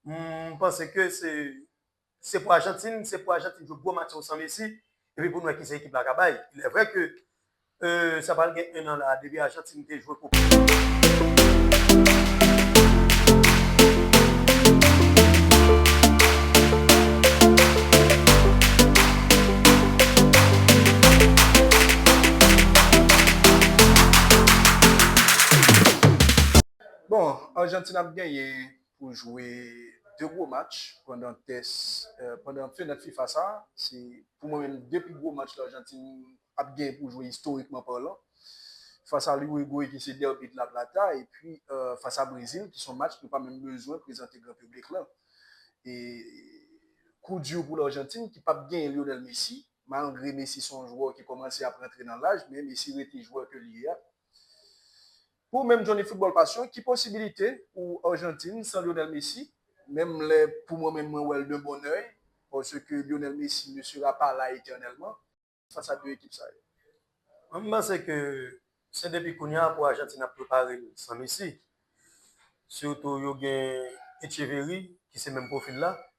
M panse ke se pou Ajantin, se pou Ajantin jwe gwo match yo san Messi, epi pou nou wè kisa ekip la ka bay. Ilèvrè ke sa pral gen 1 an la depi Ajantin te jwe koup. Bon, Ajantin ap genyen pou jwe 2 gwo match pandan tès pandan fenèt fifa sa se pou mwen menm 2 pi gwo match lajantin ap gen pou jwe istorikman palan fas a liwegwe ki se dèbi de la plata epi fas a brezil ki son match nou pa menm bezwen prezante gran piblik lan e kou di pou lajantin ki pap gen lionel messi malgre messi son jwè ki kòmanse ap rantre nan laj men messi rete jwè ke li ye a. Pou ou menm Johnny Football Passion, ki posibilite pou Argentine san Lionel Messi? Menm lè pou mwen menm mwen wèl d'un bon oeil parce que Lionel Messi ne sera pas là éternellement face à 2 ekip sa yo. Mwen panse ke se depi kounya pou Argentine ap prepare l san Messi. Surtout yo gen Etcheverry ki se menm profil la.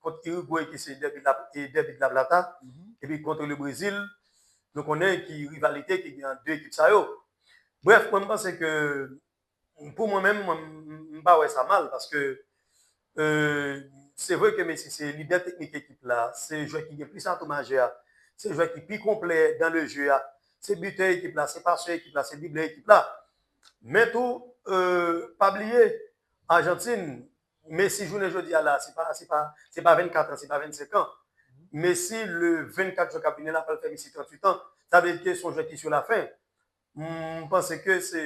kont Irigway ki se dèbi dèbi dlablata epi kont Le Brezil nou konnen ki rivalite ki gen ant 2 ekip sa yo. Brèf mwen m panse ke pou mwen menm mwen m pa wè sa mal paske se vre ke Messi se lidè teknik ekip la, se jwè ki gen plis atou majè a, se jwè ki pi konplè dan le je a, se bitè ekip la, se pasè ekip la, se driblè ekip la men tou pa bliye Ajantin Messi jounen jodi a la, se pa se pa se pa 24 an, se pa 25 an. Messi le 24 jwen k ap vini la pral fè Messi 38 an. Sa vle di ke se yon jwè ki sou la fen. M panse ke se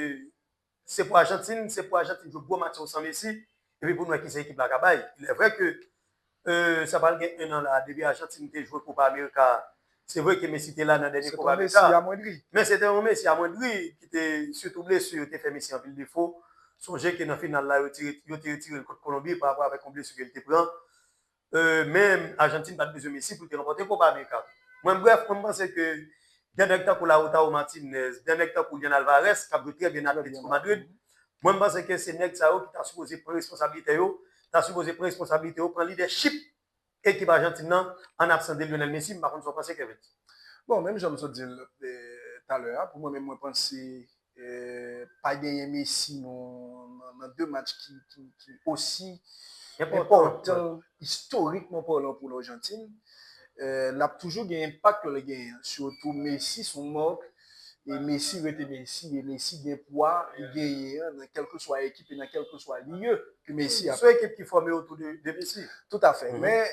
se pou Ajantin, se pou Ajantin jwe gwo match yo san Messi epi pou nou wè kisa ekip la ka bay. Ilèvrè ke Euu sa pral gen 1 an la depi Argentine te jwe Copa America a. Se vre ke Messi te la nan dènye Copa America a, men se te yon Messi amwendri ki te sitou blesu yo te fè Messi anpil defo. Sonje ke nan final la yo te yo te retire l kont Colombie pa rapò avèk yon blesu ke l te pran. Euu men Argentine pat bezwen Messi pou l te ranpòte Copa America. Mwen brèf mwen panse ke gen nèg tankou Lautaro Martinez, gen nèg tankou Julian Alvarez kap jwe trè byen nan Atletico Madrid. Mwen m panse ke se nèg sa yo ki ta sipoze pran responsablite yo, ta sipoze pran responsablite yo, pran lidèchip ekip Ajantin nan an absans de Lionel Messi, m pa konn sa w panse Kervens. Bon, menm jan m sot di l talè a, pou mwen menm mwen panse pa genyen Messi nan 2 match ki osi enpòtan istorikman palan pou Lajantin, l ap toujou gen enpak l genyen an. Sitou Messi s on mark. e Messi rete Messi e Messi gen pwa li genyen an nan kèlkeswa ekip e nan kèlkeswa lye ke Messi ap. Son ekip ki fòme otou de Messi. Tout a fè. Men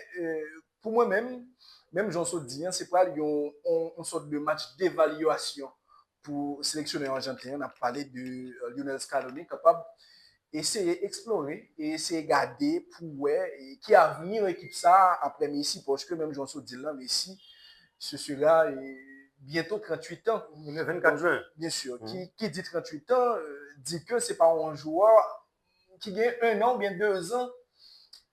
pou mwen menm, menm jan w sot di an, se pral yon yon sòt de match devalyasyon pou seleksyonè ajanten an, n ap pale de Lionel Scaloni kapab Eseye eksplore e eseye gade pou w wè ki avni ekip sa aprè Messi paske menm jan w sot di l lan Messi se sera byento 38 tan, byen sur ki di 38 tan di ke se pa yon jwè ki gen 1 an oubyen 2 zan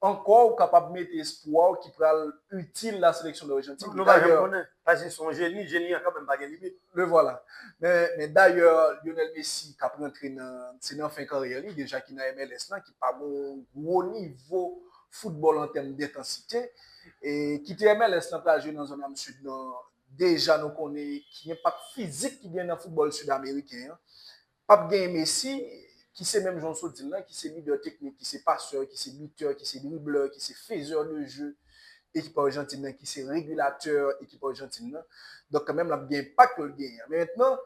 Ankò ou kapab mete espwa w ki pral itil la seleksyon Lajantin. Nou pa janm konnen, paske se yon jeni, jeni an kanmenm pa gen limit. Le vwala. Men dayè Lionel Messi kap rantre nan, se nan fen karyè li deja ki nan MLS lan ki pa gon gwo nivo foutbòl an tèm dentansite. E kite MLS lan pral jwe nan zòn am sid lan, deja nou konnen ki enpak fizik ki gen nan foutbòl sid ameriken an. Pap genyen Messi, ki se menm jan w sot di l lan, ki se lidè teknik, ki se pasè, ki se bitè, ki se driblè, ki se fezè de je ekip Arjantin lan, ki se regilatè ekip Arjantin lan. Donk kanmenm l ap gen enpak pou l genyen an. Men mentnan,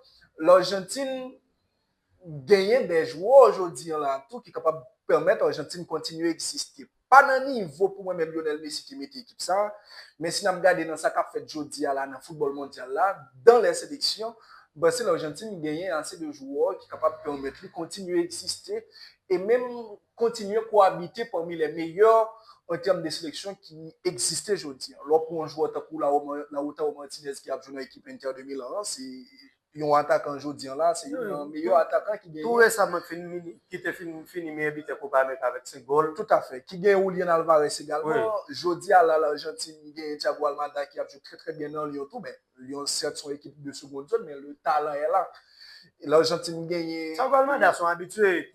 Larjantin genyen de jwè jodi an la tou ki kapab pèmèt Arjantin kontinye egziste. Pa nan nivo pou mwen menm Lionel Messi te mete ekip sa, men si n ap gade nan sa k ap fèt jodi a la nan foutbòl mondyal la, dan lè seleksyon, Brasil, Arjantin genyen ase de jwè ki kapab pèmèt li kontinye egziste e menm kontinye kowabite pami lè meyè an tèm de seleksyon ki egziste jodi a. Lè w pran yon jwè tankou Lautaro Martinez ki ap jwe nan ekip Inter de Milan an, se. Yon atakan jodi an la, se youn nan meyè atakan ki genyen. Tou resaman ki te fin fini meyè bitè Kopa Amerika avèk 5 gòl. Toutafè. Ki genyen Julian Alvarez egalman. Jodi a la, Larjantin genyen Thiago Almada ki ap jwe trè trè byen nan Lyon tou. Men, Lyon sèt son ekip de segond zòn, men le talan è la. Larjantin genyen. Thiago Almada son abitye.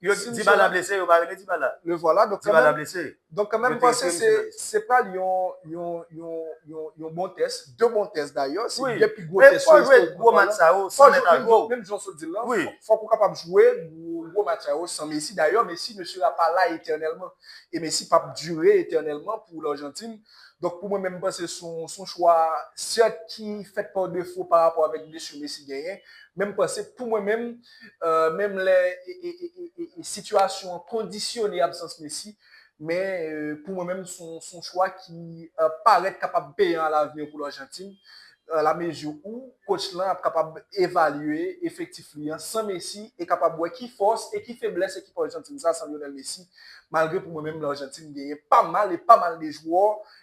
Yo t dibala blese yo pa rele dibala dibala blese donk kanmenm panse se se pral yon yon yon yon yon bon tès 2 bon tès dayè se 2 pi gwo tès fò jwe gwo match sa yo san mèt a gwo menm jan w sot di l lan fòk ou kapab jwe gwo match sa yo san Messi dayè Messi ne sera pas là éternellement e Messi p ap dire éternellement pou Largentine donk pou mwen menm m panse s on s on chwa sèt ki fèt pa defo parapò avèk blesur Messi genyen men m panse pou mwen menm menm lè sitiyasyon an kondisyone absans Messi, men pou mwen menm se yon chwa ki parèt kapab peyan alavni pou Arjantin, alamezi ou kotch lan ap kapab evalye efektif li an san Messi e kapab wè ki fòs e ki feblès ekip Arjantin sa san Lionel Messi, malgre pou mwen menm Arjantin genyen pa mal e pa mal de jwè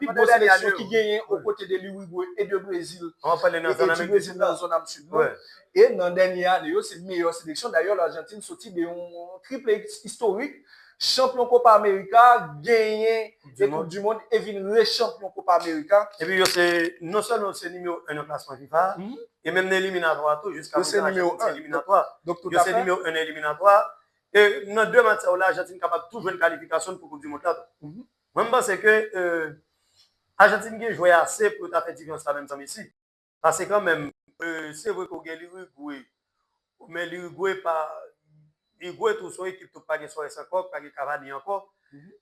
pi gwo seleksyon ki genyen o kote de Lirigwe e de Brezil e nan dènye ane yo se meyè seleksyon dayè Larjantin soti de yon triple istorik chanpyon Kopa Amerika genyen de koup di mond e vin re chanpyon Kopa Amerika epi yo se non sèlman yo se nimewo 1 nan klasman fifa e menm nan eliminatwa tou jiska prezan Larjantin se eliminatwa yo se nimewo 1 nan eliminatwa E nan 2 match sa yo la Ajantin kapab tou jwenn kalifikasyon n pou koup di mond la tou. Mwen m panse ke Ajantin gen jwè ase pou yo ta fè difyans la menm san Messi. Pase kanmenm se vre ke w gen Lirigwe men Lirigwe pa Lirigwe tou se yon ekip tou k pa gen Suarez ankò, k pa gen Cavani ankò,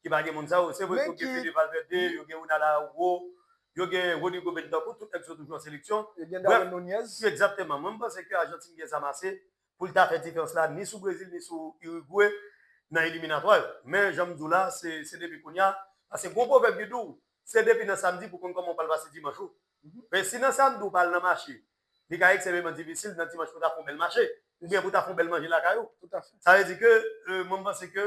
ki pa gen moun sa yo. Se vre ke yo gen Fede Valverde, yo gen Ronald Araujo, yo gen Rodrygo Bentancur, tout nèg sa yo toujou an seleksyon. Yo gen Darwin Nunez. Ekzakteman. Mwen m panse ke Ajantin gen zam ase pou l ta fè diferans la ni sou Brezil ni sou Irigwe nan eliminatwa yo. Men jan m di w la, se depi kounye a, paske gen yon pwovèb ki di w, se depi nan samdi pou w konn kòman w pral pase dimanch ou. Men si nan samdi ou pa al nan mache, li ka ekseveman difisil nan dimanch pou w ta fè yon bèl mache, oubyen pou w ta fè yon bèl manje lakay ou. Sa vle di ke mwen m panse ke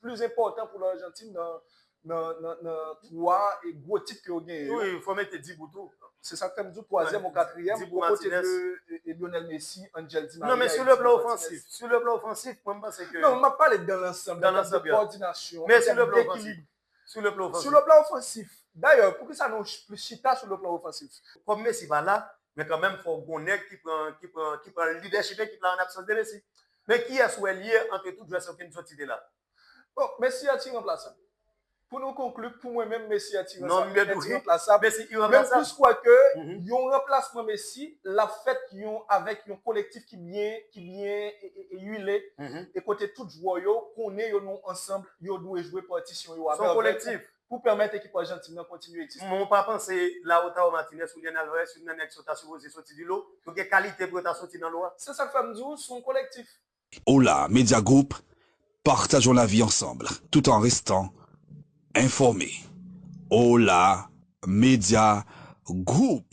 plis enpòtan pou Argentine nan 3 gwo tit ke yo genyen yo. Wi, fò mete Dibu tou. Se sak fè m di w twazyèm ou katriyèm o kote de Lionel Messi, Angel Di Maria, Edson Martinez. Non men sou le plan ofansif, sou le plan ofansif mwen m panse ke. Non, m ap pale dan lansanb, dan lansanb ya. Kòdinasyon, an tèm dekilib. Sou le plan ofansif. Sou le plan ofansif. Dayè, poukisa nou plis chita sou le plan ofansif? Kòm Messi pa la, men kanmenm fò w gon nèg ki pran, ki pran, ki pran lidèchip ekip la an absans de Messi. Men kiyès ou el ye antre tout jwè sa Kenzo cite la? Bon, Messi a ti ranplasab. Pou nou konkli, pou mwen menm Messi a ti ranplasab. Menm plis kwè ke yon ranplasman Messi lap fèt yon avèk yon kolektif ki byen ki byen uile e kote tout jwè yo konnen yo nou ansanm yo dwe jwe patisyon yo avèk. Son kolektif. pou pèmèt ekip Arjantin nan kontinye egziste. Mwen pa panse Lautaro Martinez, Julian Alvarez, youn nan nèg sa yo ta sipoze soti di lo, yo gen kalite pou yo ta soti nan lo a. Se sak fè m di w son kolektif. Hola Media Group, partageons la vie ensemble tout en restant informé Hola Media Group.